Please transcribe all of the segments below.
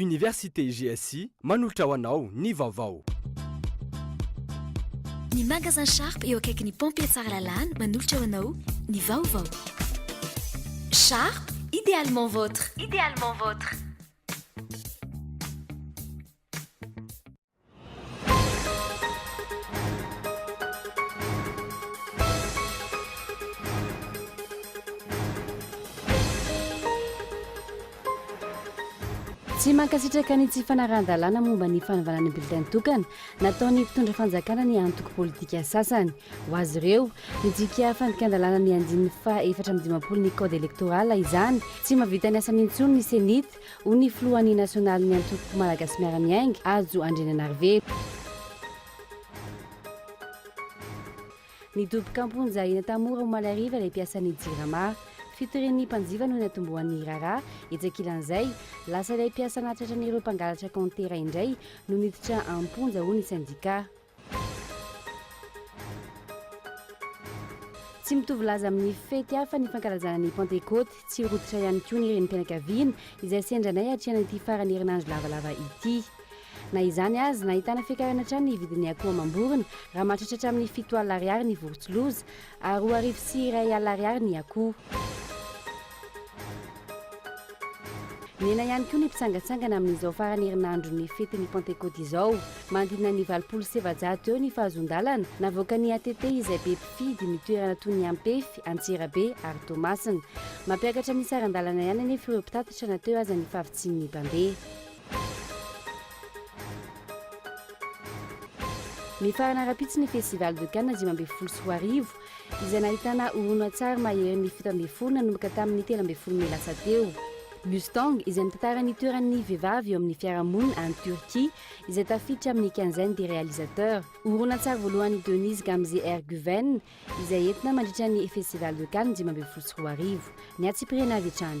Université GSI manolotra ho anao ny vaovao. Ny Magasin Sharp eo akaikin'ny Pompiers Tsaralalana manolotra ho anao ny vaovao. Sharp, idéalement votre. Idéalement votre. Tsy mankasitraka ny tsy fanarahan-dalàna momba ny fanovana ny bulletin tokana nataon'ny mpitondra fanjakana ny antoko politika sasany. Ho azy ireo, midika fandikan-dalàna ny andininy faha efatra amby dimampolo ny Code électoral izany. Tsy mahavita ny asany intsony ny Cenit Hoy ny filohan'ny nasionalin'ny antoko Malagasy Miara-miainga, Hajo Andriananarivelo. Nidoboka am-ponja eny Antamora omaly hariva ilay mpiasan'ny Jirama. Fitorian'ny mpanjifa no niantombohan'ny raharaha. Etsy ankilan'izay, lasa ilay mpiasa nahatratran'ireo mpangalatra kaontera indray no niditra am-ponja hoy ny sendika. Tsy mitovy laza amin'ny fety hafa ny fankalazana ny Pantekoty. Tsy rototra ihany koa ny renim-pianakaviana izay sendra anay hatrehana ity faran'ny herinandro lavalava ity. Na izany aza, nahitana fiakarana hatrany ny vidin'ny akoho amam-borona, raha mahatratra hatramin'ny fito alina ariary ny vorontsiloza, ary roa arivo sy iray alina ariary ny akoho. Nihena ihany koa ny mpitsangantsangana amin'izao farany herinandron'ny fetin'ny Pantekôty izao. Manodidina ny valopolo sy efajato eo ny fahazoan-dalana navoakan'ny ATT izay be mpifidy ny toerana toy ny Ampefy, Antsirabe ary Toamasina. Mampiakatra ny saran-dalana ihany anefa ireo mpitatitra na teo aza ny fahavitsian'ny mpandeha. Mifarana rahampitso ny Festival de Cannes dimy ambin'ny folo sy roa arivo izay nahitana horonantsary mahery ny fito ambin'ny folo nanomboka tamin'ny telo ambin'ny folo mey lasa teo. Mustang, izay mitantara ny toeran'ny vehivavy eo amin'ny fiarahamonina any Turquie, izay tafiditra amin'ny quinzaine des réalisateurs. Horonantsary voalohan'i Denise Gamze Erguven, izay entina mandritra ny Festival de Cannes dimy ambin'ny folo sy roa arivo. Niatsipirihina avy hatrany.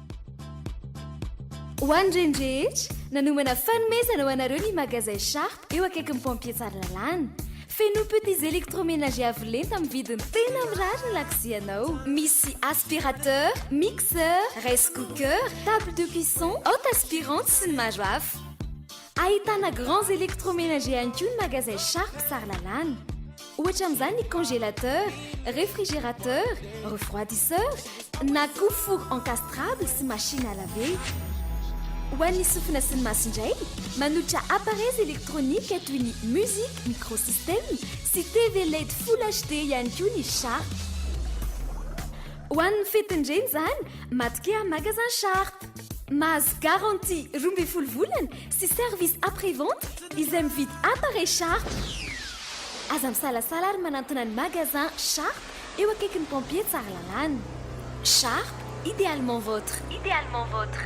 Ho an'ireny rehetra, nanomana fanomezana ho anareo ny Magasin Sharp eo akaikin'ny Pompiers Tsaralalàna. Feno petits électroménagers avo lenta amin'ny vidiny tena mirary ny lakozianao. Misy aspirateur, mixeur, rice cooker, table de cuisson, haute aspirante sy ny maro hafa. Ahitana grands électroménagers ihany koa ny magasin Sharp Tsaralalàna. Ohatra amin'izany ny congélateur, réfrigérateur, refroidisseur na koa four encastrable sy machine à laver. Ho an'ny sofina sy ny maso indray, manolotra appareils électroniques toy ny musique microsystème sy TV led full HD ihany koa ny Sharp. Ho an'ny fetin'ny reny izany, matokia Magasin Sharp. Mahazo garantie roa ambin'ny folo volana sy service après vente izay mividy appareil Sharp. Aza misalasala ary manantona ny magasin Sharp eo akaikin'ny pompier Tsaralalàna. Sharp, idéalement votre. Idéalement votre.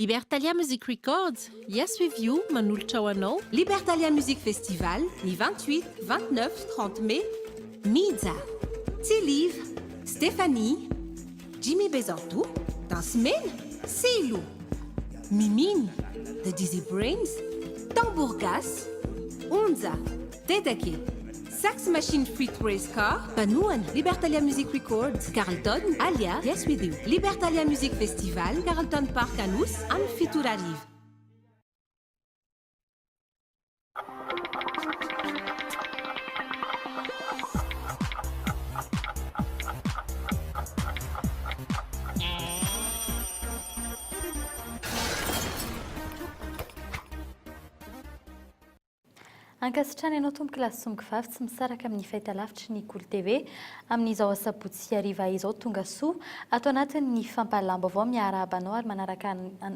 Libertalia Music Records, Yes With You manolotra ho anao Libertalia Music Festival ny vingt huit, vingt neuf, trente mai Mija, Tsiliv, Stephanie, Jimmy Bezanto, Danse Mena, Silo, Mimine, The Dizzy Brains, Tambour Gasy, Onja, Dedeke, Sax Machine feat Race Car, Mpanohana, Libertalia Music Records, Carlton, Alia, Yes We Do, Libertalia Music Festival, Carlton Park Anosy, amin'ny fito ora hariva. Ankasitrany anao tompoko lahy sy somongo vavy tsy misaraka amin'ny fahitalavitry ny Kolo TV amin'izao asabotsy hariva izao tonga soa ato anatin'ny fampahalalam-baovao miarahaba anao ary manaraka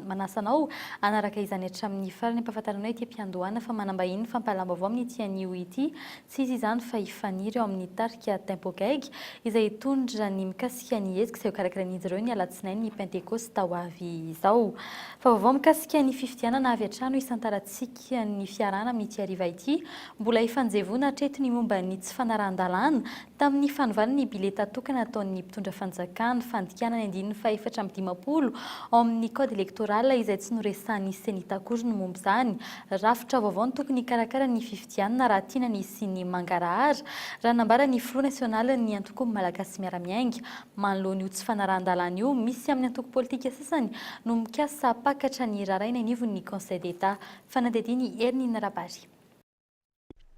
manasa anao hanaraka izany hatramin'ny farany ampahafantaranao ity mpiandohana fa manambahin'ny fampahalalam-baovao amin'ity anio ity tsy iza izany fa i Faniry eo amin'ny tarika Tempo Gaigy izay hitondra ny mikasika ny hetsika izay hokarakarain'izy ireo ny alatsinainy pentekosita ho avy izao fa vaovao mikasika ny fifidianana avy hatrany ho isan-taratsika kian'ny fiarahana amin'ity hariva ity, mbola ifanjevoana hatreto ny momba ny tsy fanarahan-dalàna tamin'ny fanovana ny bileta tokana ataon'ny mpitondra fanjakana, fandikana ny andininy fahefatra amby dimampolo ao amin'ny code électoral izay tsy noresahan'ny Cenit akory ny momba izany. Rafitra vaovao no tokony hikarakara ny fifidianana raha tiana ny hisian'ny mangarahara, raha nambara ny Filoha nasionalin'ny Antoko Malagasy Miara-miainga, Manoloana io tsy fanarahan-dalàna io, misy amin'ny antoko politika sasany no mikasa hampakatra ny raharaha eny anivon'ny Conseil d'Etat. Fanadihadian'i Hermine Rabary.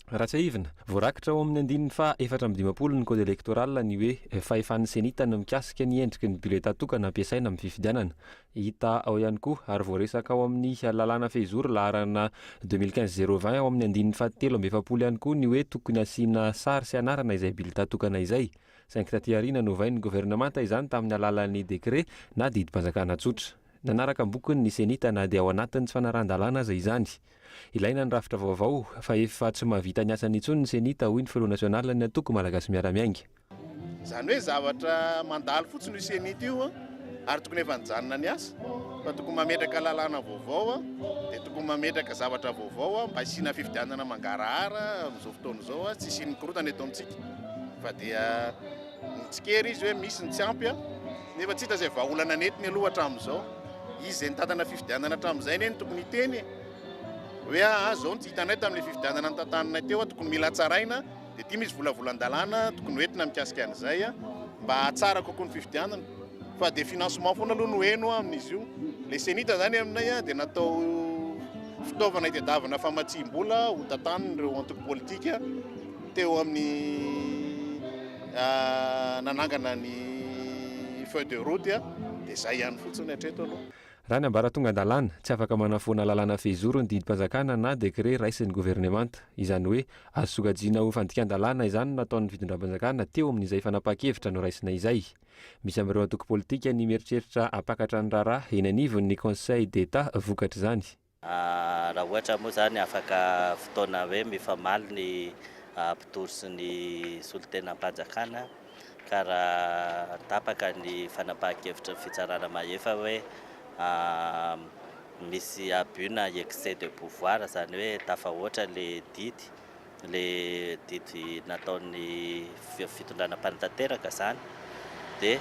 Raha tsiahivina, voarakitra ao amin'ny andininy faha efatra amby dimampolo ny Code Electoral ny hoe fahefan'ny Cenit ny mikasika ny endriky ny biletà tokana ampiasaina amin'ny fifidianana. Hita ao ihany koa ary voaresaka ao amin'ny lalàna fehizoro laharana deux mille quinze zéro vingt ao amin'ny andininy faha telo amby efapolo ihany koa ny hoe tokony asiana sary sy anarana izay biletà tokana izay. saingy taty aoriana novain'ny governemanta izany tamin'ny alalan'ny dekre na didim-panjakana tsotra. Nanaraka ny bokony ny Cenita na dia ao anatin'ny tsy fanarahan-dalàna aza izany. Ilaina ny rafitra vaovao, fa efa tsy mahavita ny asany intsony ny Cenita, hoy ny filoha nasionalin'ny antoko Malagasy Miara-Miainga. Izany hoe zavatra mandalo fotsiny io Cenita io ary tokony efa nijanona ny asa, fa tokony mametraka lalàna vaovao, dia tokony mametraka zavatra vaovao mba hisiana fifidianana mangarahara amin'izao fotoana izao, tsy hisian'ny korontana eto amintsika. fa dia nitsikera izy hoe misy ny tsy ampy nefa tsy hita izay vahaolana nentiny aloha hatramin'izao. Izy izay nitantana fifidianana hatramin'izay anie no tokony hiteny e. Hoe ah, ah izao no tsy hitanay tamin'ilay fifidianana nitantananay teo, ah, tokony mila hatsaraina, dia ity misy volavolan-dalàna tokony hoentina mikasika an'izay ah, mba hahatsara kokoa ny fifidianana. Fa dia financement foana aloha no heno ah, amin'izy io. Ilay senita izany aminay ah, dia natao fitaovana hitadiavana famatsiam-bola hotantanin'ireo antoko politika. Teo amin'ny nanangana ny feuille de route dia izay ihany fotsiny hatreto aloha. Raha ny ambaratongan-dalàna, tsy afaka manafoana lalàna fehizoro ny didim-panjakana na décret raisin'ny governemanta. Izany hoe, azo sokajiana ho fandikan-dalàna izany no nataon'ny fitondram-panjakana teo amin'izay fanapahan-kevitra noraisina izay. Misy amin'ireo antoko politika ny mieritreritra hampakatra ny raharaha eny anivon'ny Conseil d'Etat vokatr'izany. Raha ohatra moa izany afaka fotoana hoe mifamaly ny mpitory sy ny solontenam-panjakana ka raha tapaka ny fanapahan-kevitry ny fitsarana mahefa hoe misy abus na excès de pouvoir, izany hoe tafahoatra ilay didy, ilay didy nataon'ny fitondrana mpanatanteraka izany dia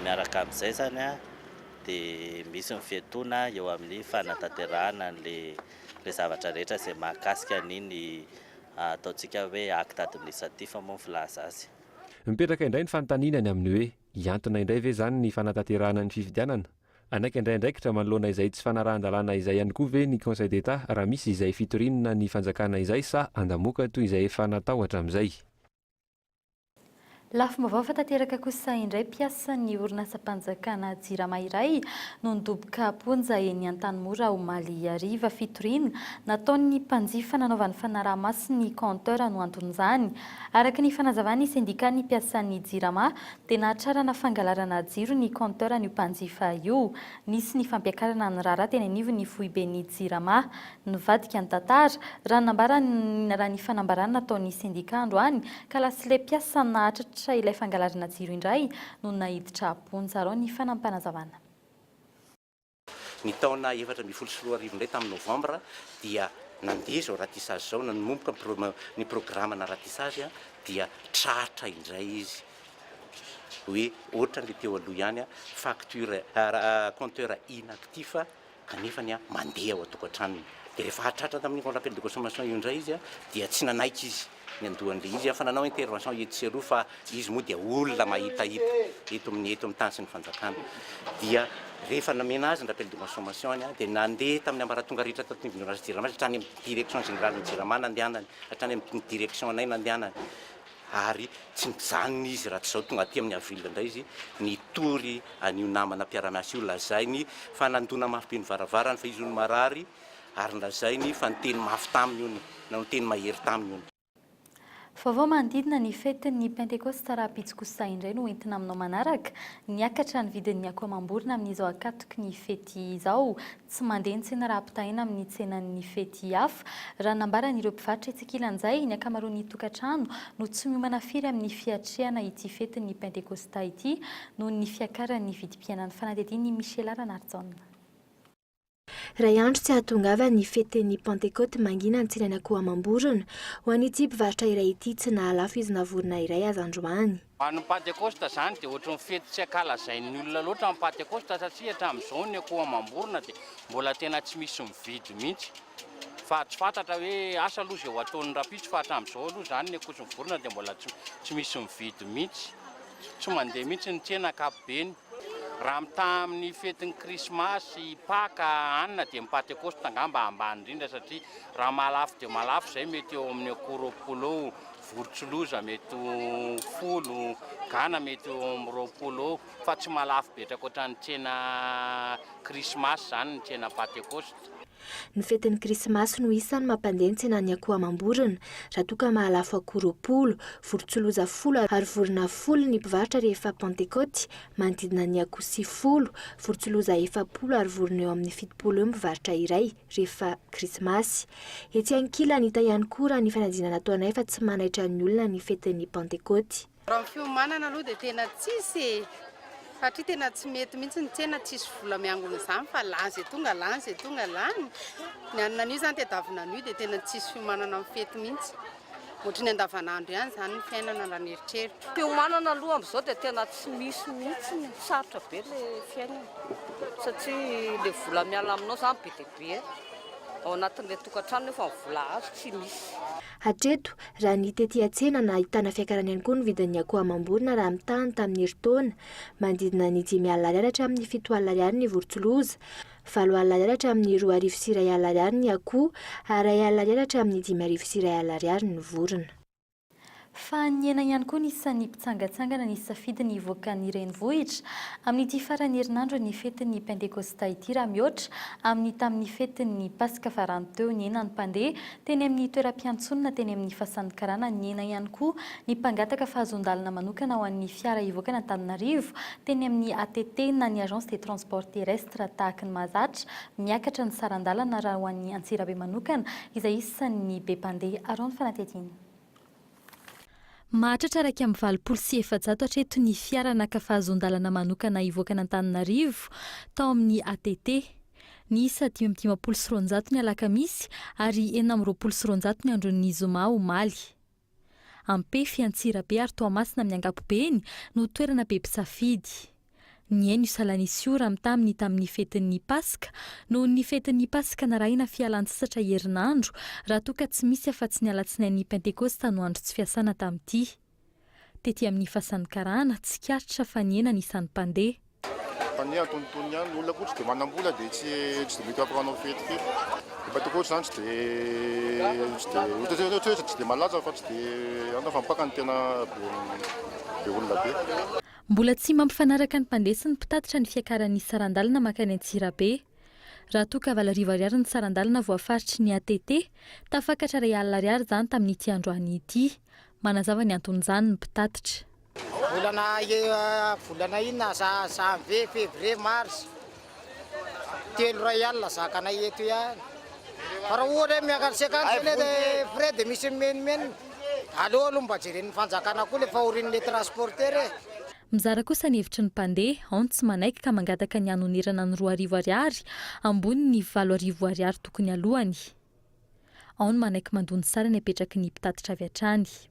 miaraka amin'izay izany an, dia misy ny fiatoana eo amin'ny fanatanterahana an'ilay zavatra rehetra izay mahakasika an'iny ataontsika hoe acte administratif moa ny filaza azy. Mipetraka indray ny fanontaniana ny amin'ny hoe hiantona indray ve izany ny fanatanterahana ny fifidianana? Hanaiky handray andraikitra manoloana izay tsy fanarahan-dalàna izay ihany koa ve ny Conseil d'Etat raha misy izay fitoriana ny fanjakana izay sa handamoaka toy izay efa natao hatramin'izay? Lafim-baovao efa tanteraka kosa indray, mpiasan'ny orinasam-panjakana Jirama iray no nidoboka am-ponja eny Antanimora omaly hariva. Fitoriana nataon'ny mpanjifa nanaovany fanaraha-maso ny compteur no anton'izany. Araka ny fanazavan'ny sendikàn'ny mpiasan'ny Jirama dia nahatrarana fangalarana jiro ny compteur an'io mpanjifa io. Nisy ny fampiakarana ny raharaha teny anivon'ny foiben'ny Jirama. Nivadika ny tantara, raha nambaran'ny raha ny fanambarana nataon'ny sendika androany, ka lasilay mpiasa nahatratra ilay fangalarana jiro indray no naiditra am-ponja. Arao ny fanampin'Azavana. Ny taona efatra ambin'ny folo sy roa arivo indray, tamin'ny novambra, dia nandeha izao ratissage izao, nanomboka ny pro, ny programana ratissage, dia tratra indray izy hoe, ohatran'ilay teo aloha ihany, facture, compteur inactif, kanefa ny mandeha ao an-tokantranony dia rehefa hahatratra tamin'iny Grand Rappel de Consommation io indray izy dia tsy nanaiky izy ny handoan'ilay izy fa nanao intervention etsy sy eroa fa izy moa dia olona mahitahita eto amin'ny eto amin'ny tany sy ny fanjakana dia rehefa namena azy ny Rappel de Consommation any dia nandeha tamin'ny ambaratonga rehetra tato anivon'ny Orange Jirama hatrany amin'ny Direction Générale ny Jirama nandehanany hatrany amin'ny Direction anay nandehanany ary tsy mijanona izy raha tsy izao tonga aty amin'ny avril indray izy nitory an'io namana mpiara-miasa io, lazainy fa nandona mafy be ny varavarany fa izy hono marary ary nolazainy fa niteny mafy taminy hono na niteny mahery taminy hono. Vaovao manodidina ny fetin'ny Pentekosta Rahampitsokosa indray no entina aminao manaraka, Niakatra ny vidin'ny akoho amam-borona amin'izao ankatoky ny fety izao, tsy mandeha ntsena raha ampitahaina amin'ny tsenan'ny fety hafa. Raha nambaran'ireo mpivarotra etsy ankilan'izay, ny ankamaroan'ny tokantrano no tsy miomana firy amin'ny fiatrehana ity fetin'ny Pentekôsta ity noho ny fiakaran'ny vidim-piainana. Fanadihadian'i Michela Ranarijaona. Iray andro tsy hahatongava ny fetin'ny Pentekôty mangina ny tsenan'Akoho Amam-borona. Ho an'ity mpivarotra iray ity, tsy nahalafo izy na vorona iray aza androany. Ho an'ny Pantekosta izany dia ohatry ny fety tsy ankalazain'ny olona loatra ny Pantekosta satria hatramin'izao ny akoho amam-borona dia mbola tena tsy misy mividy mihitsy fa tsy fantatra hoe asa aloha izay ho ataon'ny rahampitso fa hatramin'izao aloha izany ny akoho sy ny vorona dia mbola tsy tsy misy mividy mihitsy. Tsy mandeha mihitsy ny tsena ankapobeny. Raha mitaha amin'ny fetin'ny Krismasy, Paka, anona dia ny Pantekosta angamba ambany indrindra satria raha maha lafo dia maha lafo izay mety eo amin'ny akoho roapolo eo Vorontsiloza mety ho folo, gana mety ho eo amin'ny roapolo eo fa tsy mahalafo be ohatran'ny tsena krismasy izany ny tsena Pantekosta. Ny fetin'ny krismasy no isan'ny mampandeha ny tsenan'ny akoho amam-borona raha toa ka mahalafo akoho roapolo, vorontsiloza folo ary vorona folo ny mpivarotra rehefa Pantekoty, manodidina ny akoho sivifolo, vorontsiloza efapolo ary vorona eo amin'ny fitopolo eo ny mpivarotra iray. rehefa Krismasy. Etsy ankilany, hita ihany koa raha ny fanadinana nataonay fa tsy manaitra ny olona ny fetin'ny Pantekôty. Raha ny fiomanana aloha dia tena tsisy e! Satria tena tsy mety mihitsy ny tsena tsisy vola miangona izany fa lany zay tonga lany zay tonga lany. Ny anona anio izany tadiavina anio dia tena tsisy fiomanana amin'ny fety mihitsy. Ohatry ny andavanandro ihany izany ny fiainana raha ny eritreritro. Fiomanana aloha amin'izao dia tena tsy misy mihitsy, sarotra be ilay fiainana satria ilay vola miala aminao izany be dia be ao anatin'ilay tokantrano nefa ny vola azo tsy misy. Hatreto, raha ny tety an-tsena nahitana fiakarana ihany koa ny vidin'ny akoho amam-borona raha mitaha ny tamin'ny herintaona. Manodidina ny dimy alina ariary hatramin'ny fito alina ariary ny vorontsiloza. valo alina ariary hatramin'ny roa arivo sy iray alina ariary ny akoho ary iray alina ariary hatramin'ny dimy arivo sy iray alina ariary ny vorona. Fa nihena ihany koa ny isan'ny mpitsangantsangana nisafidy ny hivoaka ny renivohitra amin'ity faran'ny herinandron'ny fetin'ny Pentekôsta ity raha mihoatra amin'ny tamin'ny fetin'ny Paska farany teo nihena ny mpandeha Teny amin'ny toeram-piantsonana teny amin'ny Fasan'ny Karana nihena ihany koa ny mpangataka fahazoan-dalana manokana ho an'ny fiara hivoaka an'Antananarivo teny amin'ny ATT na ny Agence des Transports Terrestres tahaky ny mahazatra miakatra ny saran-dalana raha ho an'i Antsirabe manokana izay isan'ny be mpandeha. Araho ny fanadihadiana. Mahatratra iraika amby valopolo sy efajato hatreto ny fiara naka fahazoan-dalana manokana hivoaka an'Antananarivo tao amin'ny ATT. Niisa dimy amby dimampolo sy roanjato ny alakamisy ary enina amby roapolo sy roanjato ny andron'ny zoma omaly. Ampefy, Antsirabe ary Toamasina amin'ny ankapobeny no toerana be mpisafidy. Nihaino i Salanisiora am taminy tamin' ny fetin' ny Paska, noho ny fetin' ny Paska narahina fialan-tsasatra herinandro, raha toa ka tsy misy afa-tsy ny alatsinain' ny Pentekosta no andro tsy fiasana tamin' ity. Tety amin' ny fasan'ny karana, tsikaritra fa nihena ny isan'ny mpandeha. Fa ny antonontonony ihany, ny olona koa tsy dia manam-bola dia tsy tsy dia mety hampanao fety fety. Ny Pentekosta izany tsy dia tsy dia ohatra hoe ohatra hoe tsy dia malaza fa tsy dia any fa mpaka no tena be be olona be. Mbola tsy mampifanaraka ny mpandeha sy ny mpitatitra ny fiakaran'ny saran-dalana mankany Antsirabe. Raha toa ka valo arivo ariary ny saran-dalana voafaritry ny ATT, tafakatra iray alina ariary izany tamin'ity androany ity. Manazava ny anton'izany ny mpitatitra. Volana volana inona, janvier, fevrier, mars, Telo iray alina zakanay eto ihany. Fa raha ohatra hoe miakatra sy akany zao le frais de misy mimenomenona. Aleo aloha mba jeren'ny fanjakana koa le fahorian'le transporteur e. Mizara kosa ny hevitry ny mpandeha, ao ny tsy manaiky ka mangataka ny hanonerana ny roa arivo ariary ambony ny valo arivo ariary tokony aloany. Ao ny manaiky mandoa ny sarany apetraky ny mpitatitra avy hatrany.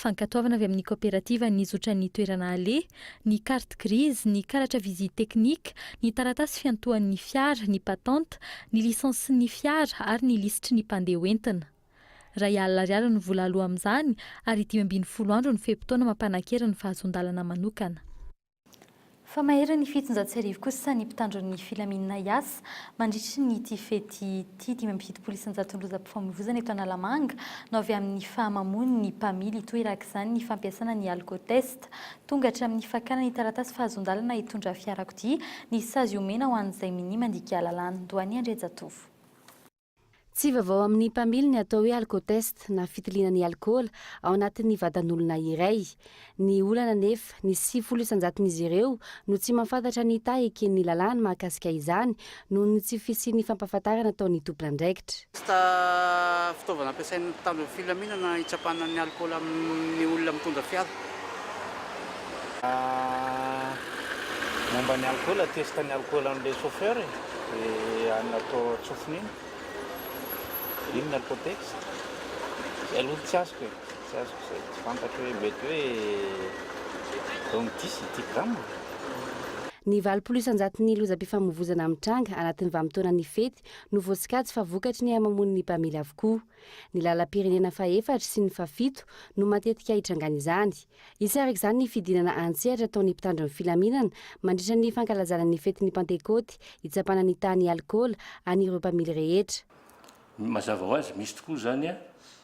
Fankatoavana avy amin'ny kaoperativa ny zotran'ny toerana aleha, ny carte grise, ny karatra visite technique, ny taratasy fiantohan'ny fiara, ny patente, ny lisansin'ny fiara ary ny lisitry ny mpandeha ho entina. Iray alina ariary ny vola aloa amin'izany ary dimy ambin'ny folo andro ny fe-potoana mampanankery ny fahazoan-dalana manokana. Fa mahery ny fitonjato sy arivo kosa ny mpitandro ny filaminana hiasa mandritry ny ity fety ity. Dimy amby fitopolo isanjaton'ny lozam-pifamoivoizana eto Analamanga no avy amin'ny fahamamoan'ny mpamily. Hitoerak' izany ny fampiasana ny alkotest. Tonga hatramin'ny fakana ny taratasy fahazoan-dalana hitondra fiarakodia ny sazy omena ho an'izay minia mandika lalàna. Doany Andriajatovo. Tsy vaovao amin'ny mpamily ny atao hoe alkotest na fitiliana ny alkaola ao anatin'ny vatan'olona iray. Ny olana anefa, ny sivifolo isan-jaton'izy ireo no tsy mahafantatra ny taha eken'ny lalàna mahakasika izany noho ny tsy fisian'ny fampahafantarana ataon'ny tompon'andraikitra. Testa, fitaovana ampiasain'ny mpitandro ny filaminana hitsapana ny alkaola amin'ny olona mitondra fiara. Momba ny alikaola, test ny alikaola an'ilay chauffeur e, dia any atao an-tsofiny iny, iny ny alcotex, izay aloha no tsy azoko e, tsy azoko izay, tsy fantatro hoe mety hoe eo amin'ny dix ity gramme. Ny valopolo isan-jaton'ny lozam-pifamoivozana mitranga anatin'ny vanim-potoanan'ny fety no voasokajy fa vokatry ny hamamoan'ny mpamily avokoa. Ny lalam-pirenena fahefatra sy ny fahafito no matetika itrangan'izany. Hisy araka izany ny fidinana an-tsehatra ataon'ny mpitandro ny filaminana mandritra ny fankalazana ny fetin'ny Pantekôty hitsapana ny tahan'ny alikaola an'ireo mpamily rehetra. Mazava ho azy, misy tokoa izany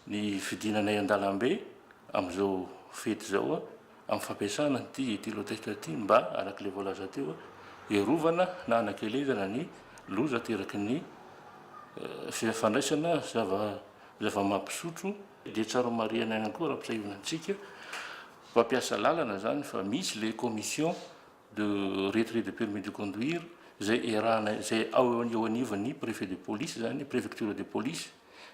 ny fidinana eny an-dalambe amin'izao fety izao. Amin'ny fampiasana an'ity etylotest ity mba, araka ilay voalaza teo, hiarovana na hanakelezana ny loza ateraky ny fandraisana zava-mampisotro, dia tsara homarihina ihany koa raha ampisahiana antsika mpampiasa lalana izany fa misy ilay commission de retrait de permis de conduire izay erahana, izay eo anivon'ny préfet de police izany, préfecture de police,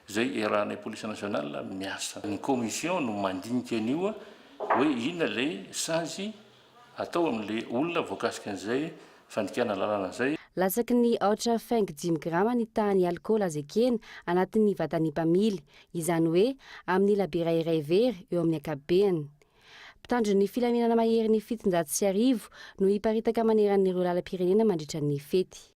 izay iarahanay police nationale miasa. Ny commission no mandinika an'io hoe inona ilay sazy atao amin'ilay olona voakasika an'izay fandikana lalana izay. Latsaky ny aotra fengo dimy grama ny tahan'ny alikaola azo ekena anatin'ny vatan'ny mpamily, izany hoe amin'ny labiera iray very eo amin'ny ankapobeny. Mpitandro ny filaminana maherin'ny fitonjato sy arivo no hiparitaka maneran'ireo lalam-pirenena mandritra ny fety.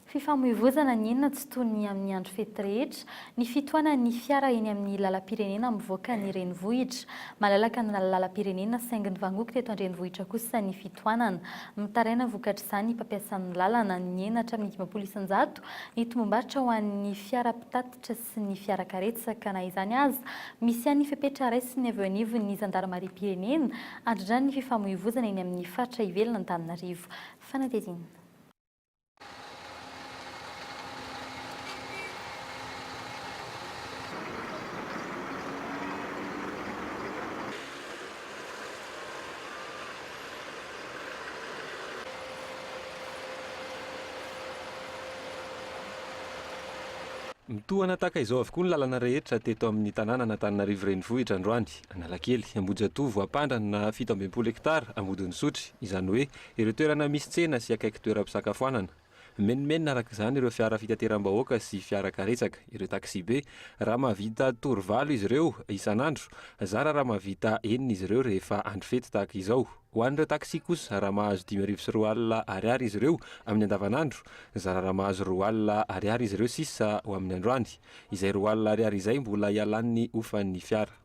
Fifamoivoizana ny inona tsy toy ny amin'ny andro fety rehetra, ny fitohanan'ny fiara eny amin'ny lalam-pirenena mivoaka ny renivohitra. Malalaka ny lalam-pirenena saingy nivangoky teto an-drenivohitra kosa ny fitohanana. Mitaraina vokatr'izany mpampiasan'ny lalana, nihena hatramin'ny dimampolo isan-jato ny tombombarotra ho an'ny fiara mpitatitra sy ny fiara karetsaka. Na izany aza, misy ihany ny fepetra raisiny avy eo anivon'ny zandarimariam-pirenena handrindrany ny fifamoivoizana eny amin'ny faritra ivelan'Antananarivo. Fanadihadiana. Mitohana tahaka izao avokoa ny lalana rehetra teto amin'ny tanànan'Antananarivo Renivohitra androany, Analakely, Ambohijatovo, Ampandrana, fito ambin'ny folo hektara, Ambodin'Isotry, izany hoe Ireo toerana misy tsena sy akaiky toeram-pisakafoanana. Mimenomenona araka izany ireo fiara fitateram-bahoaka sy fiara karetsaka, ireo taxi-be. Raha mahavita tour valo izy ireo isan'andro, zara raha mahavita enina izy ireo rehefa andro fety tahaka izao. Ho an'ireo taxi kosa, raha mahazo dimy arivo sy roa alina Ariary izy ireo amin'ny andavanandro, zara raha mahazo roa alina Ariary izy ireo sisa ho amin'ny androany. Izay roa alina Ariary izay mbola ialan'ny hofan'ny fiara.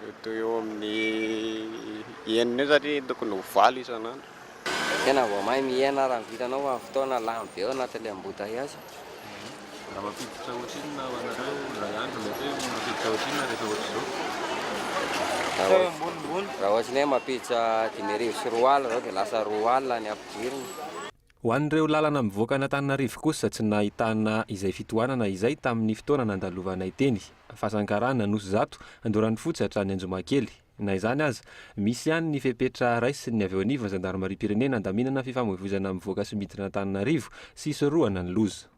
Mety ho eo amin'ny enina eo satria tokony ho valo isan'andro. Tena vao mahay mihena raha ny vitanao fa ny fotoana lany be ao anatin'ilay embouteillages. Raha mampiditra ohatrinona ho anareo indray andro mety hoe mampiditra ohatrinona rehefa ohatr'izao? Raha ohatry ny hoe mampiditra dimy arivo sy roa alina izao dia lasa roa alina ny ampidirina. Ho an'ireo lalana mivoaka an'Antananarivo kosa tsy nahitana izay fitohanana izay tamin'ny fotoana nandalovanay teny, Fasankarana, Anosizato, Andoran'Ifotsy hatrany Anjomakely. Na izany aza, misy ihany ny fepetra raisin'ny avy eo anivon'ny zandarimariam-pirenena handaminana ny fifamoivoizana mivoaka sy miditra an'Antananarivo sy hisorohana ny loza.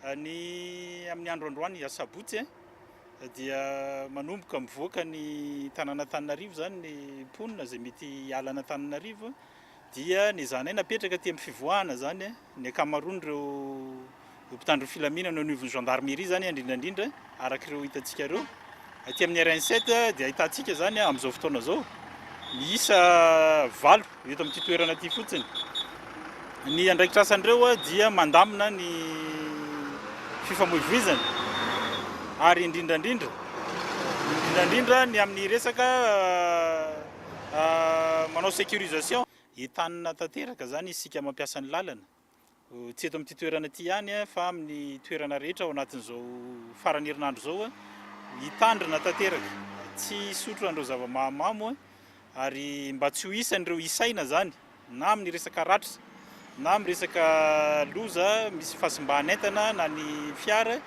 Ny amin'ny andro androany asabotsy dia manomboka mivoaka ny tanàn'Antananarivo izany ny mponina izay mety hiala an'Antananarivo dia nezahanay napetraka aty amin'ny fivoahana izany ny ankamaroan'ireo mpitandro ny filaminana eo anivon'ny gendarmerie izany indrindra indrindra Araka ireo hitantsika ireo, aty amin'ny RN7 dia ahitantsika izany amin'izao fotoana izao miisa valo eto amin'ity toerana ity fotsiny. Ny andraikitra asan'ireo dia mandamina ny fifamoivoizana ary indrindrandrindra indrindrandrindra ny amin'ny resaka ah, ah, manao sécurisation. Entanina tanteraka izany isika mampiasa ny lalana. Tsy eto amin'ity toerana ity ihany fa amin'ny toerana rehetra ao anatin'izao faran'ny herinandro izao, hitandrina tanteraka, tsy hisotro an'ireo zava-mahamamo ary mba tsy ho isan'ireo isaina izany na amin'ny resaka ratra na amin'ny resaka loza misy fahasimban'entana na ny fiara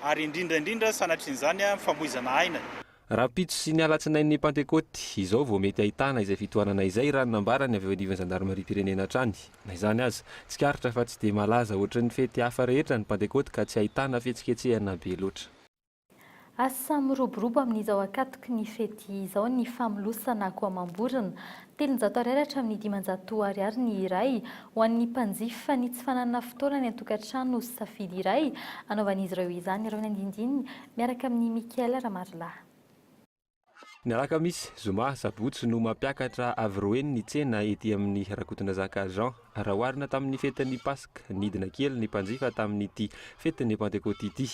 ary indrindra indrindra sanatria an'izany famoizana aina. Rahampitso sy ny alatsinain'ny Pantekôty izao vao mety hahitana izay fitohanana izay, raha ny nambarany avy eo anivon'ny zandarimariam-pirenena hatrany. Na izany aza, tsikaritra fa tsy dia malaza hoatry ny fety hafa rehetra ny Pantekôty ka tsy ahitana fihetsiketsehana be loatra. Asa miroborobo amin'izao ankatoky ny fety izao ny famolosana akoamam-borona Telonjato Ar hatramin'ny dimanjato Ar Ar ny iray, ho an'ny mpanjifa ny tsy fananana fotoana any an-tokantrano sy safidy iray anaovan'izy ireo izany ireo ny andindininy miaraka amin'i Michael Ramarilahy. Ny alakamisy, zoma, sabotsy no mampiakatra avy roa heny ny tsena ety amin'ny Rakotondrazaka Jean. Raha oharina tamin'ny fetin'ny Paska, nidina kely ny mpanjifa tamin'ity fetin'ny Pantekoty ity.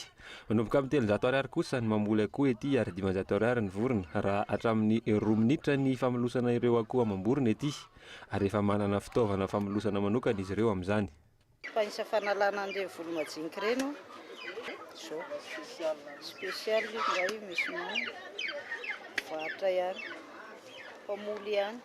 Manomboka amin'ny telonjato Ariary kosa ny mamboly akoho ety ary dimanjato Ariary ny vorona, raha hatramin'ny roa minitra ny famolosana ireo akoho amam-borona ety, ary efa manana fitaovana famolosana manokana izy ireo amin'izany. Fa isa fanalana an'ireny volo majinika ireny ô! Zao. Special io ndray misy nono. Varotra ihany. Mpamoly ihany.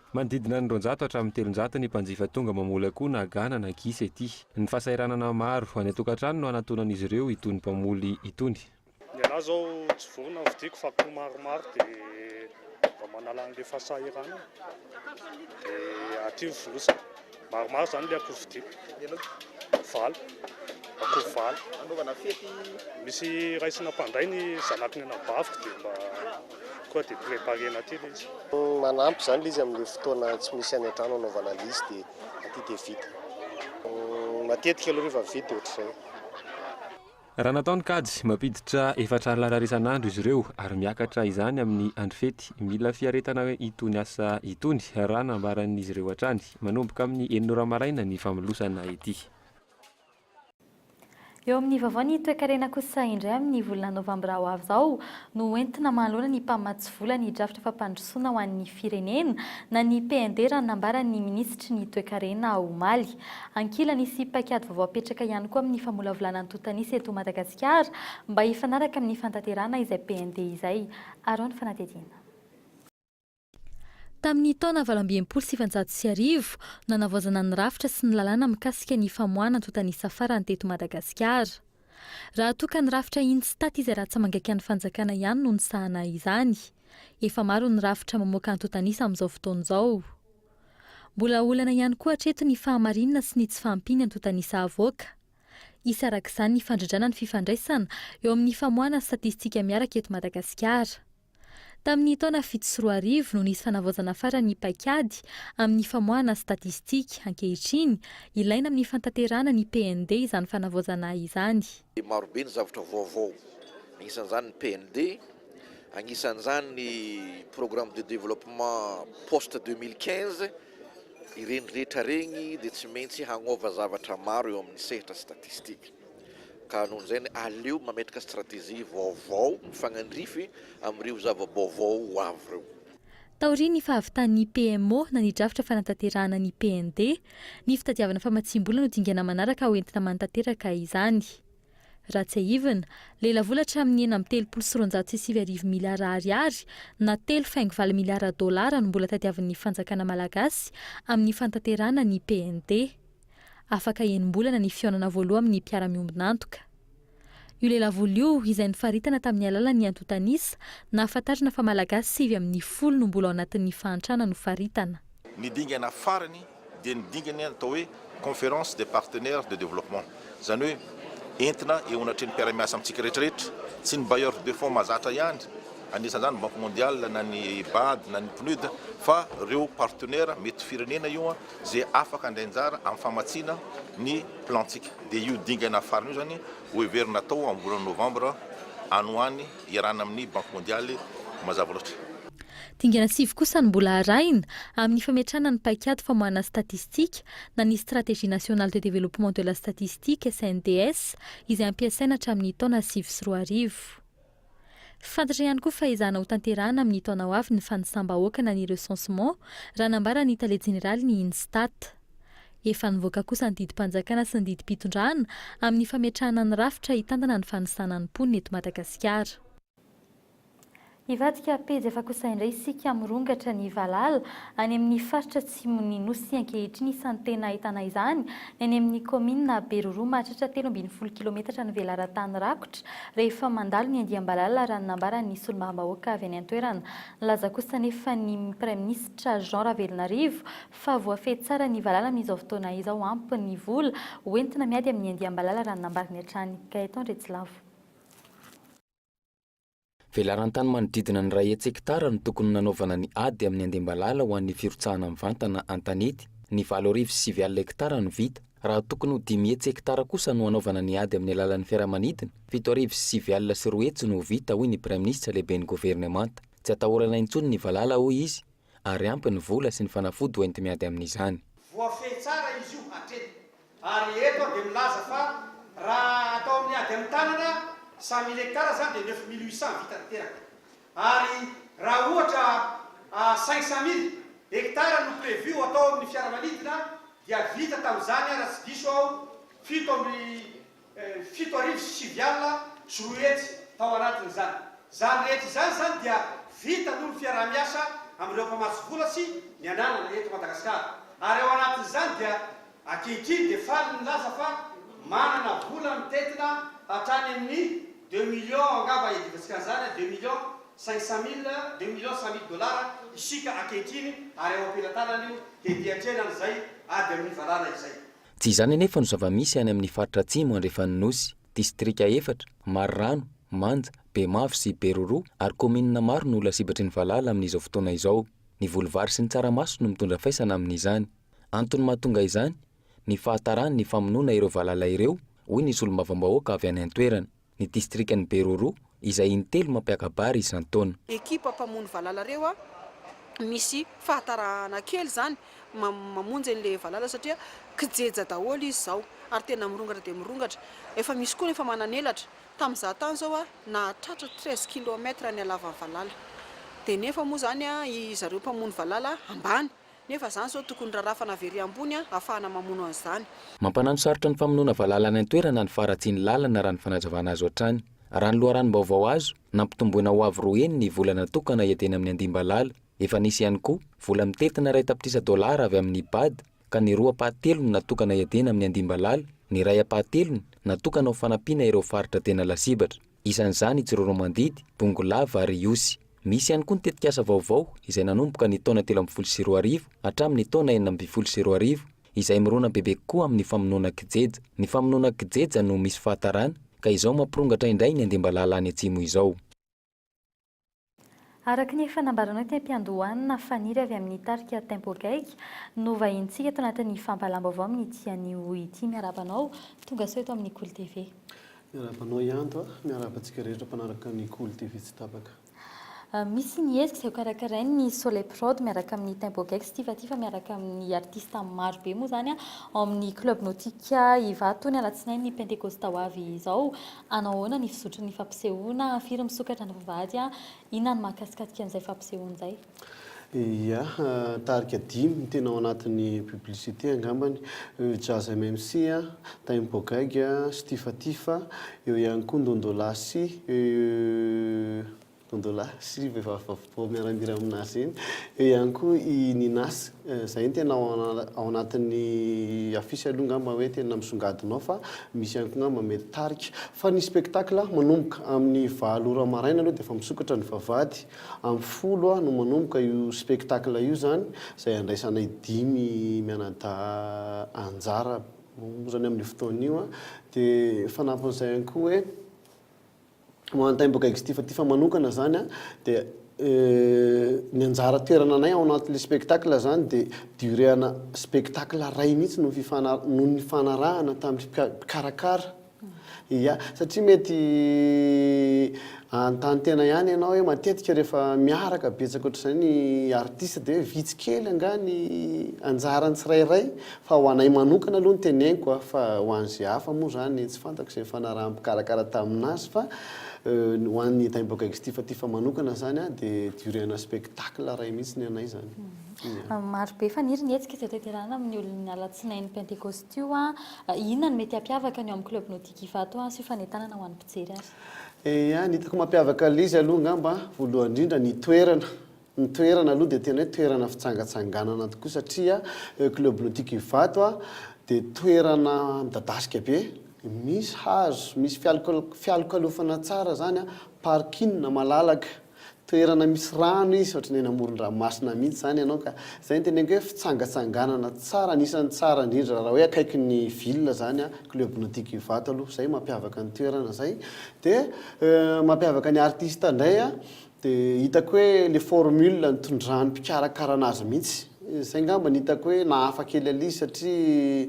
Manodidina ny roanjato hatramin'ny telonjato ny mpanjifa tonga mamoly akoho na gana na gisa ety. Ny fahasahiranana maro any an-tokantrano no anatonan'izy ireo itony mpamoly itony. Ny anah izao tsy vorona no vidiako fa akoho maromaro dia mba manala an'ilay fahasahiranana dia aty ny fonosana. Maromaro izany ilay akoho vidiako, valo, akoho valo. Anaovana fety? Misy raisina mpanday ny zanaky ny anabaviko dia mba koa dia préparer-na aty ilay izy. Manampy izany ilay izy amin'ilay fotoana tsy misy any an-trano anaovana ilay izy dia aty dia vita. Matetika aloha rehefa vita dia ohatr'izay. Raha natao ny kajy, mampiditra efatra Ar lanar isan'andro izy ireo ary miakatra izany amin'ny andro fety. Mila fiaretana itony asa itony, raha nambaran'izy ireo hatrany. Manomboka amin'ny enina ora maraina ny famelosana ity. Eo amin'ny vaovao ny toekarena kosa indray amin'ny volana novambra ho avy izao no ho entina manoloana ny mpamatsy vola ny drafitra fampandrosoana ho an'ny firenena na ny PND raha ny nambaran'ny minisitry ny toekarena omaly. Ankilany, hisy paikady vaovao hapetraka ihany koa amin'ny famolavolana antontan'isa eto Madagasikara mba hifanaraka amin'ny fantanterahana izay PND izay. Araho ny fanadihadiana. Tamin'ny taona valo amby enimpolo sy sivinjato sy arivo, nanavaozana ny rafitra sy ny lalàna mikasika ny famoahana antontan'isa farany teto Madagasikara. Raha toa ka ny rafitra INSTAT izay ratsa-mangaikan'ny fanjakana ihany no nisahana izany, efa maro ny rafitra mamoaka antontan'isa amin'izao fotoana izao. Mbola olana ihany koa hatreto ny fahamarinana sy ny tsy fahampian'ny antontan'isa avoaka. Hisy araka izany ny fandrindrana ny fifandraisana eo amin'ny famoahana statistika miaraka eto Madagasikara. Tamin'ny taona fito sy roa arivo no nisy fanavaozana farany ny paikady amin'ny famoahana statistika, ankehitriny, ilaina amin'ny fantanterahana ny PND izany fanavaozana izany. Marobe ny zavatra vaovao, anisan'izany ny PND, anisan'izany ny programme de développement post deux mille quinze, ireny rehetra ireny dia tsy maintsy hanova zavatra maro eo amin'ny sehatra statistique. Ka noho izany aleo mametraka stratégie vaovao mifanandrify amin'ireo zava-baovao ho avy ireo. Taorian'ny fahavitan'ny PMO na ny drafitra fanatanterahana ny PND, ny fitadiavana famatsiam-bola no dingana manaraka ho entina manatanteraka izany. Raha tsiahivina, lelavola hatramin'ny enina amby telopolo sy roanjato sy sivy arivo miliara ariary na telo faingo valo miliara dolara no mbola tadiavin'ny fanjakana malagasy amin'ny fanatanterahana ny PND. Afaka enim-bolana ny fihaonana voaloa amin'ny mpiara-miombon'antoka. Io lelavola io, izay nifaritana tamin'ny alalan'ny antontan'isa, nahafantarana fa Malagasy sivy amin'ny folo no mbola ao anatin'ny fahantrana nofaritana. Ny dingana farany dia ny dingana atao hoe Conférence des partenaires de développement, izany hoe entina eo anatrehan'ny mpiara-miasa amintsika rehetrarehetra, tsy ny bailleurs de fonds mahazatra ihany, anisan'izany ny Banque mondiale na ny bad na ny PNUD, fa ireo partenaires mety firenena io izay afaka handray anjara amin'ny famatsiana ny Plan-tsika, dia io dingana farany io izany ho heverina hatao amin'ny volana Novambra any ho any iarahana amin'ny Banky Mondialy mazava loatra. Dingana sivy kosa no mbola arahina amin'ny fametrahana ny paikady famoahana statistika na ny Stratégie Nationale de Développement de la Statistique, SNDS, izay hampiasaina hatramin'ny taona sivy sy roa arivo. Fantatra ihany koa fa ezahana ho tanterahana amin'ny taona ho avy ny fanisam-bahoaka na ny recensement, raha nambara ny tale jeneraly ny INSTAT. Efa nivoaka kosa ny didim-panjakana sy ny didim-pitondrana amin'ny fametrahana ny rafitra hitantana ny fanisana ny mponina eto Madagasikara. Hivadika pejy hafa kosa indray isika mirongatra ny valala Any amin'ny faritra atsimon'ny Nosy ankehitriny isan'ny tena ahitana izany, ny any amin'ny kaominina Beroroha mahatratra telo ambin'ny folo kilometatra ny velaran-tany rakotra rehefa mandalo ny andiam-balala raha ny nambaran'ny solombavambahoaka avy any an-toerana. Nilaza kosa anefa ny Praiminisitra Jean Ravelonarivo fa voafehy tsara ny valala amin'izao fotoana izao ampy ny vola ho entina miady amin'ny andiam-balala raha ny nambarany hatrany. Gaëtan Retsilavo. Velarantany manodidina ny ray hetsek-tara no tokony nanaovana ny ady amin'ny andimbalala ho an'ny firotsahana mivantana an-tanety, ny valo arivo sy sivy alina hektara no vita, raha tokony ho dimy hetsek-tara kosa no hanaovana ny ady amin'ny alalan'ny fiaramanidina, fito arivo sy sivy alina sy roa hetsy no ho vita, hoy ny Praiminisitra, Lehiben'ny Governemanta. Tsy atahorana intsony ny valala, hoy izy, ary ampy ny vola sy ny fanafody ho enti-miady amin'izany. Voafehy tsara izy io hatreny ary eto aho dia milaza fa raha atao amin'ny ady amin'ny tanana, cent mille hectares izany dia neuf mille huit cents vita tanteraka ary raha ohatra cinq cent mille hectares no prévu ho atao amin'ny fiaramanidina dia vita tamin'izany raha tsy diso aho fito amby fito arivo sy sivy alina sy roa hetsy tao anatin'izany. Izany rehetra izany izany dia vita noho ny fiaraha-miasa amin'ireo mpamatsy vola sy ny ananana eto Madagasikara. Ary ao anatin'izany dia ankehitriny dia faly ny milaza fa manana vola mitentina hatrany amin'ny deux millions angamba iadivantsika an'izany, deux millions cinq cent mille, deux millions cent mille dollars isika ankehitriny ary ao am-pelatanany io dia miatrehana an'izay ady amin'ny valala izay. Tsy izany anefa no zava-misy any amin'ny faritra atsimo andrefan'ny Nosy, distrika efatra, Marirano, Manja, Bemavo sy Beroroha ary kaominina maro no lasibatry ny valala amin'izao fotoana izao. Ny voly vary sy ny tsaramaso no mitondra faisana amin'izany. Antony mahatonga izany, ny fahataran'ny famonoana ireo valala ireo, hoy ny solombavambahoaka avy any an-toerana. ny distrikan'i Beroro izay intelo mampiaka-bary isan-taona. Ekipa mpamono valala reo a, misy fahatarahana kely zany mamonjy anle valala satria kijeja daholo izy zao ary tena mirongatra dia mirongatra, efa misy koa ny efa manan'elatra, tam za tany zao a nahatratra treize kilomètre ny halavan'ny valala, de nefa moa zany a i zareo mpamono valala ambany Nefa izany izao tokony rarafana avy ery ambony ahafahana mamono an'izany. Mampanano sarotra ny famonoana valala any an-toerana ny faharatsian'ny lalana raha ny fanazavana azo hatrany. Raha ny loharanom-baovao azo, nampitomboina ho avo roa heny ny vola natokana hiadiana amin'ny andiam-balala. Efa nisy ihany koa vola mitentina iray tapitrisa dolara avy amin'ny Ipad ka ny roa ampahatelony natokana hiadiana amin'ny andiam-balala, ny iray ampahatelony natokana ho fanampiana ireo faritra tena lasibatra. isan'izany i Tsiroanomandidy, Bongolava ary Ihosy. Misy ihany koa ny tetikasa vaovao izay nanomboka ny taona telo ambin'ny folo sy roa arivo hatramin'ny taona enina ambin'ny folo sy roa arivo izay mirona bebe kokoa amin'ny famonoana kijeja. Ny famonoana kijeja no misy fahatarana ka izao mampirongatra indray ny andimbalala any atsimo izao. Araka ny efa nambaranao teny am-piandohana, Faniry avy amin'ny tarika Tempo Gaigy no vahinintsika ato anatin'ny fampahalam-baovao amin'ity anio ity. Miarahaba anao, tonga sao eto amin'ny Kolo TV. Miarahaba anao Ianto a! Miarahaba antsika rehetra mpanaraka ny Kolo TV tsy tapaka. Misy ny hetsika izay ho karakarain'ny Soleil Prod miaraka amin'ny Tempo Gaigy sy Tifatifa miaraka amin'ny artista maro be moa izany ao amin'ny Club Nautique Ivato ny alatsinainy pentekosta ho avy izao. Hanao ahoana ny fizotry ny fampisehoana? Firy misokatra ny vavahady an? Inona no mahakasikasika an'izay fampisehoana izay? Ia, tarika dimy no tena ao anatin'ny publicité angambany, Jazz MMC, Tempo Gaigy, Stifatifa, eo ihany koa Ndondolasy, Dondolahy sy vehivavy vaovao miara-mihira amin'azy eny. Eo ihany koa i Ninas. Izay no tena ao anatin'ny affiche aloha angamba hoe tena misongadina ao fa misy ihany koa angamba mety tarika. Fa ny spectacle manomboka amin'ny valo ora maraina aloha dia efa misokatra ny vavahady. Amin'ny folo no manomboka io spectacle io izany izay handraisanay dimy mianadahy anjara moa izany amin'io fotoana io. Dia ny fanampin'izay ihany koa hoe ho an'ny Taim-bahoaka Extifatif manokana zany a, dia ny anjara toerana anay ao anatin'le spectacle zany de durée ana spectacle ray mihitsy no fifana- no nifanarahana tamin'ny mpika- mpikarakara, ia, satria mety anontany tena ihany ianao hoe matetika rehefa miaraka betsaka ohatr'izay ny artiste de hoe vitsy kely angaha ny anjaran'ny tsirairay Fa ho anay manokana aloha no teneniko a, fa ho an'izay hafa moa izany tsy fantako izay nifanaraha-mpikarakara tamin'azy fa ho an'ny Taimboka Extif Tifa manokana izany a dia durée ana spectacle iray mihitsy ny anay izany. Ia. Maro be faniry ny hetsika izay tanterahina amin'ny olon'ny alatsinain'ny pentekosta io a, inona no mety hampiavaka ny ao amin'ny Club Nautique Ivato a sy fanentanana ho an'ny mpijery ary? Ia, ny hitako mampiavaka ilay izy aloha angamba a, voalohany indrindra ny toerana, Ny toerana aloha dia tena hoe toerana fitsangatsanganana tokoa satria eo Club Nautique Ivato dia toerana midadasika be, misy hazo, misy fialokalofana tsara izany, parking malalaka, toerana misy rano izy, ohatran'ny eny amoron-dranomasina mihitsy izany ianao ka. Izay no teneniko hoe fitsangatsanganana tsara, anisan'ny tsara indrindra raha hoe akaikin'ny ville izany Club Nautique Ivato aloha, izay mampiavaka ny toerana izay. Dia mampiavaka ny artista indray De hitako hoe le formule nitondran'ny mpikarakara anazy mihitsy, zay ngamba ny hitako hoe nahafa kely an izy satria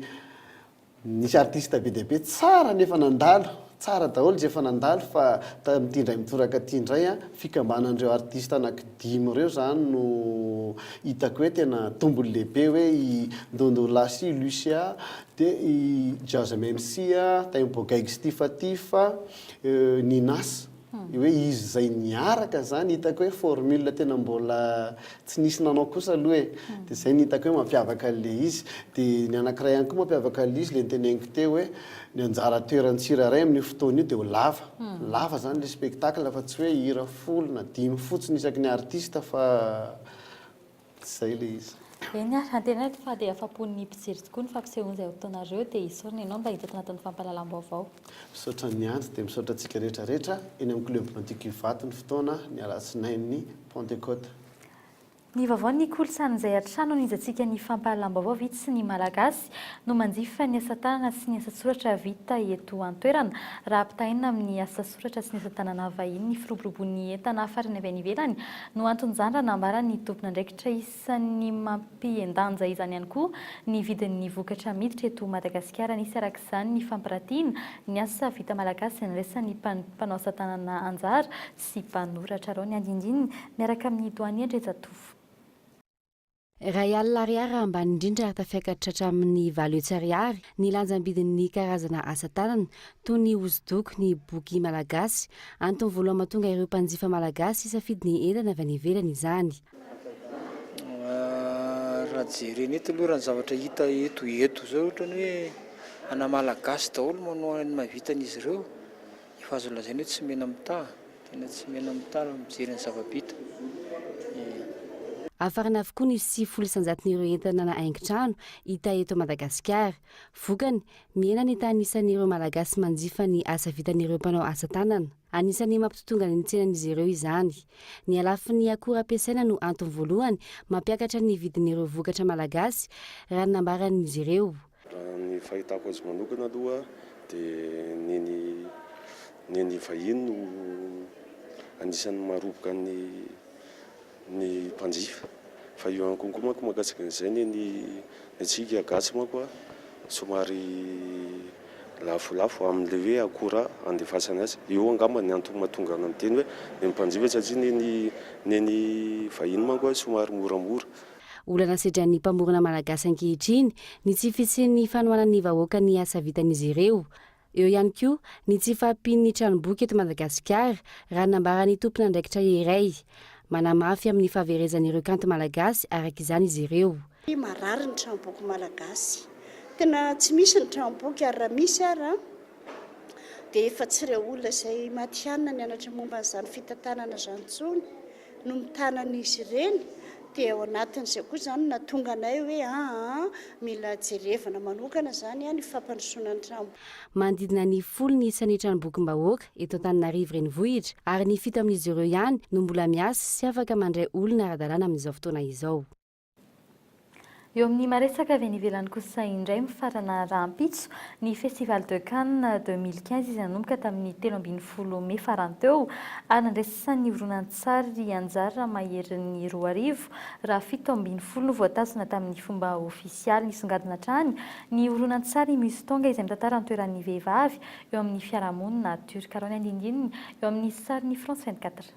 nisy artiste be dia be tsara nefa nandalo, tsara daholo zay efa nandalo fa tamin'ity indray mitoraka ty indray an, fikambanan'ireo artiste anaky dimy ireo zany no hitako hoe tena tombony lehibe hoe i Ndondolahy sy Lucia de i Jazz Msy a, Tempo Gaigs Tifa Tifa, Ninas. Io hoe izy izay niaraka izany hitako hoe formule tena mbola tsy nisy nanao kosa aloha e. Dia izay no hitako hoe mampiavaka an'ilay izy. Dia ny anankiray ihany koa mampiavaka an'ilay izy ilay noteneniko teo hoe ny anjara toeran'ny tsirairay amin'io fotoana io dia ho lava. Lava izany ilay spectacle fa tsy hoe hira folo na dimy fotsiny isaky ny artiste fa. Zay ilay izy. Eny ary, antenaiko fa dia afa-pon'ny mpijery tokoa ny fampisehoana izay hotonareo, dia isaorana ianao mba hitoto anatin'ny fampahalalam-baovao. Misaotra niandry dia misaotra antsika rehetra rehetra eny amin'ny club antico Ivato ny fotoana ny alatsinain'ny Pentecote. Ny vaovao ny kolontsaina izay hatrany onizantsika ny fampahalalam-baovao vitsy ny Malagasy no manjifa ny asa tanana sy ny asa-tsoratra vita eto an-toerana raha ampitahaina amin'ny asa Soratra sy ny asa tanana vahiny ny firoborobon'ny entana hafarana avy any ivelany no anton'izany raha nambaran'ny tompon'andraikitra isan'ny mampihen-danja izany ihany koa ny vidin'ny vokatra miditra eto Madagasikara. Nisy araka izany ny fampiratiana ny asa vita malagasy izay niraisan'ny mpanao asa tanana anjara sy mpanoratra. Arao ny andinindininy miaraka amin'ny Doanie Andriajatovo. Iray alina ariary ambany indrindra ary tafiakatra hatramin'ny valo hetsy ariary ny lanjam-bidin'ny karazana asa tanana toy ny hosodoko, ny boky malagasy. Antony voalohany mahatonga ireo mpanjifa malagasy hisafidy ny entana avy any ivelany izany. Raha jerena eto aloha raha ny zavatra hita eto eto izao ohatran'ny hoe ana malagasy daholo manohana ny maha vitan'izy ireo. Efa azo lazaina hoe tsy mena mitaha, tena tsy mena mitaha raha mijery ny zava-bita e. Hafarana avokoa ny sivifolo isanjaton'ireo entana na haingon-trano hita eto Madagasikara. Vokany, mihena ny tanisan'ireo Malagasy manjifa ny asa vitan'ireo mpanao asa tanana. Anisan'ny mampitotonga ny tsenan'izy ireo izany. Ny halafin'ny akora ampiasaina no antony voalohany mampiakatra ny vidin'ireo vokatra malagasy, raha ny nambaran'izy ireo. Raha ny fahitako azy manokana aloha dia ny ny ny ny vahiny no anisan'ny maroboka ny ny mpanjifa fa eo ihany konko manko mahakasika an'izay ny ny antsika gasy manko a somary lafolafo amin'le hoe akora andefasana azy eo angamba ny antony mahatonga ana miteny hoe ny mpanjifa satria ny ny ny ny vahiny manko a somary moramora Olana sedran'ny mpamorona malagasy ankehitriny ny tsy fisian'ny fanohanan'ny vahoaka ny asa vitan'izy ireo. Eo ihany koa ny tsy fahampian'ny tranomboky eto Madagasikara, raha ny nambaran'ny tompon'andraikitra iray. Manamafy amin'ny fahaverezan'ireo kanto malagasy araka izany izy ireo. Marary ny tranomboky malagasy. Tena tsy misy ny tranomboky ary raha misy ara dia efa tsy ireo olona izay matihanina nianatra momba an'izany fitantanana izany intsony. no mitana an'izy ireny dia ao anatin'izay koa izany no nahatonga anay hoe aa mila jerevana manokana izany ny fampandrosoana ny tranomboky. Manodidina ny folo ny isan'ny tranombokim-bahoaka eto Antananarivo Renivohitra ary ny fito amin'izy ireo ihany no mbola miasa sy afaka mandray olona ara-dalàna amin'izao fotoana izao. Eo amin'ny maresaka avy any ivelany kosa indray mifarana rahampitso ny Festival de Cannes 2015 izay nanomboka tamin'ny telo ambin'ny folo mey farany teo ary nandraisan'ny horonantsary anjara ramaherin'ny roa arivo raha fito ambin'ny folo no voatazona tamin'ny fomba ofisialy. Nisongadina hatrany ny horonantsary Muse Tonga izay mitantara ny toeran'ny vehivavy eo amin'ny fiarahamonina Turka. Arao ny andinindininy eo amin'ny sarin'ny France 24.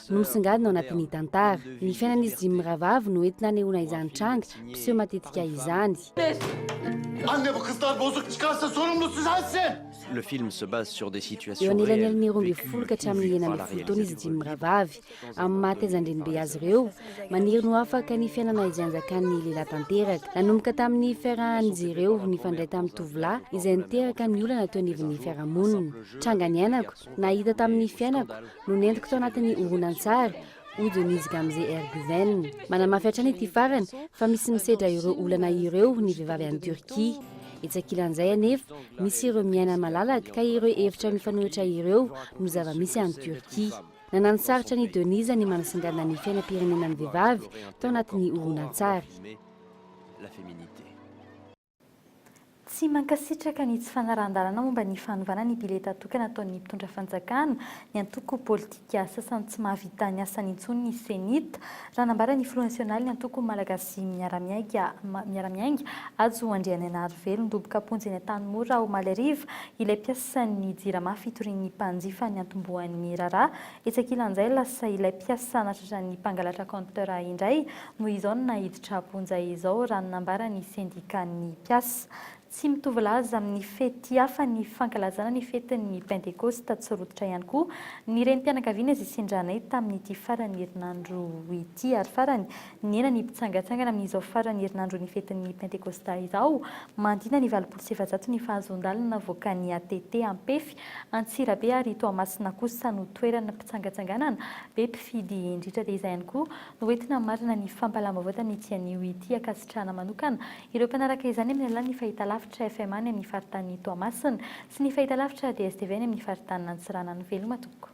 Nosongadina ao anatin'ny tantara. Ny fiainan'izy dimy mirahavavy no entina anehoana izany tranga, mpiseho matetika izany. Eo anelanelan'ny roa ambin'ny folo ka hatramin'ny enina ambin'ny folo taona izy dimy mirahavavy, amin'ny maha taiza an-drenibe azy ireo. Maniry ny ho afaka ny fiainana izay anjakan'ny lehilahy tanteraka. Nanomboka tamin'ny fiarahan'izy ireo nifandray tamin'ny tovolahy izay niteraka ny olana teo anivon'ny fiarahamonina. Tranga niainako. Nahita tamin'ny fiainako no nentiko tao anatin'ny horonantsary, hoy Denise Gamze Erguven. Manamafy hatrany ity farany fa misy misedra ireo olana ireo ny vehivavy any Turquie. Etsy ankilan'izay anefa, misy ireo miaina malalaka ka ireo hevitra mifanohitra ireo no zava-misy any Turquie. Nananosarotra an'i Denise ny manasongadina ny fiainam-pirenenan'ny vehivavy tao anatin'ny horonantsary. Tsy mankasitraka ny tsy fanarahan-dalana momba ny fanovana ny bileta tokana ataon'ny mpitondra fanjakana, ny antoko politika sasany tsy mahavita ny asany intsony ny Cenit, raha nambara ny filoha nasionalin'ny antoko Malagasy miara-miainga, miara-miainga, Hajo Andrianainarivelo. Nidoboka am-ponja eny Antanimora, omaly hariva, ilay mpiasan'ny Jirama fitorian'ny mpanjifa niantombohan'ny raharaha Etsy ankilan'izay, lasa ilay mpiasa nahatratra ny mpangalatra compteur indray no izao no naiditra am-ponja izao, raha ny nambaran'ny sendikàn'ny mpiasa. Tsy mitovy laza amin'ny fety hafa ny fankalazana ny fetin'ny Pentekosta tsy rototra ihany koa ny renim-pianakaviana zisindranay tamin'ity faran'ny herinandro ity ary farany Nihena ny mpitsangantsangana amin'izao faran'ny herinandron'ny fetin'ny Pentekostà izao. Manodidina ny valopolo sy efajato ny fahazoan-dalana navoakan'ny ATT Ampefy, Antsirabe ary Toamasina kosa no toeran'ny mpitsangatsanganana. Be mpifidy indrindra dia izay ihany koa no hoentina hamarana ny fampahalam-baovao tamin'ity anio ity. Ankasitrahana manokana ireo mpanaraka izany amin'ny alalan'ny fahitalavitra FMA any amin'ny faritanin'i Toamasina sy ny fahitalavitra DSTV any amin'ny faritanin'Antsiranana. Veloma tompoko.